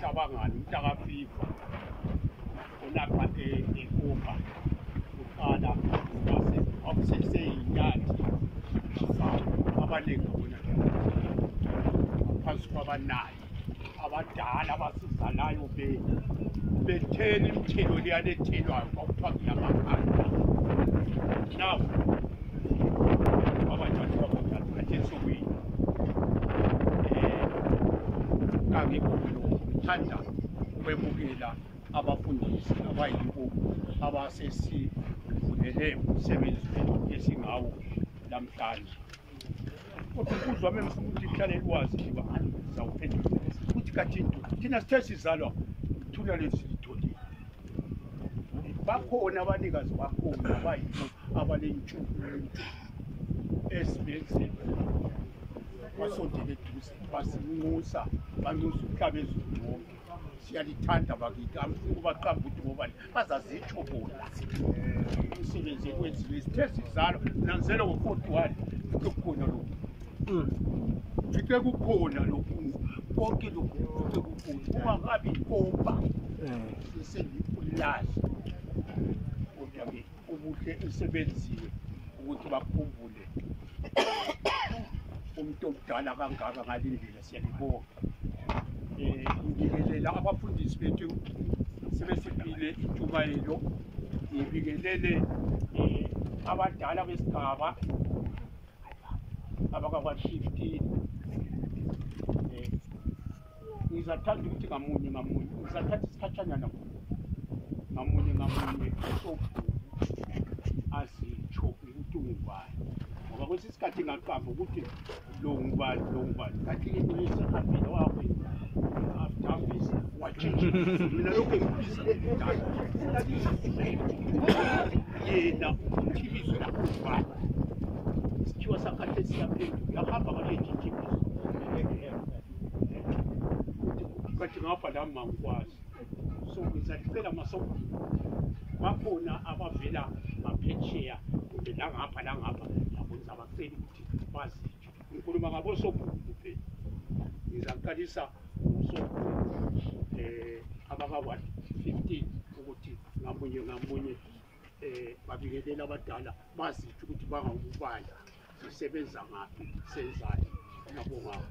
cabangani umntakafiva ulapha ekumba uqala wakuseseyinyathi abaningi abona phansi kwabanayo abadala abasizalayo be bethela imithelo leyanethelwayo kwakuthiwa ngiyamakhanda nawo ngithanda ukwemukela abafundisi abayibo abasesivulele umsebenzi wethu esingawo namhlanje kodwa ukuzwa wami ngifuna ukuthi kuhlale lwazi liba zawuphendula ukuthi kathini thina sithe sizalwa thuna lezi bakhona abanikazi bakhona abayino abalentshukuntshu ezibenzile basondele eduze basinxusa banxusa umhlaba ezulu wonke siyalithanda bakithi angifuni ubaqamba ukuthi ngobani bazazitsho bona umsebenzi ekwenziwe sithe sizalo nanzele ngo-forty one kukhona lokhu Ngithe kukhona lokhu konke lokhu ngithe kukhona kungakabi inkomba sesengikulazi kodwa ke ubuhle esebenziwe ukuthi bakhumbule umuntu omdala kangaka ngalindlela siyalibonga eh, ngibikelela abafundisi bethu sebesipile intshumayelo ngibikelele eh, abadala besigaba abakakwa 15 eh ngizathatha ukuthi ngamunye ngamunye ngizathatha isikhatshanyana ngamunye ngamunye sobhuku azitsho ukuthi ungubani ngoba kwesinye isikhathi ngaqamba ukuthi lo ngubani lo ngubani kathi into esihambile wakwenza after watshintsha mina lokhu engibizile yena ukuthi ibizo lakho ngubani sikhiwa sakhathesi saphenduka uyahamba ngalejinji ibizo bathi ngapha la mangikwazi so ngizalifela masoko bakhona abavela ngaphetsheya kumbe langapha langapha yabonisa abaceli ukuthi bazitsho nkolobaka bosopu mpe ezankanisa bosopu eh, abaka wa 15 ukuthi ngamunye ngamunye um babingeleli abadala bazitsho ukuthi bangakubala sisebenza ngaphi senzani nabongako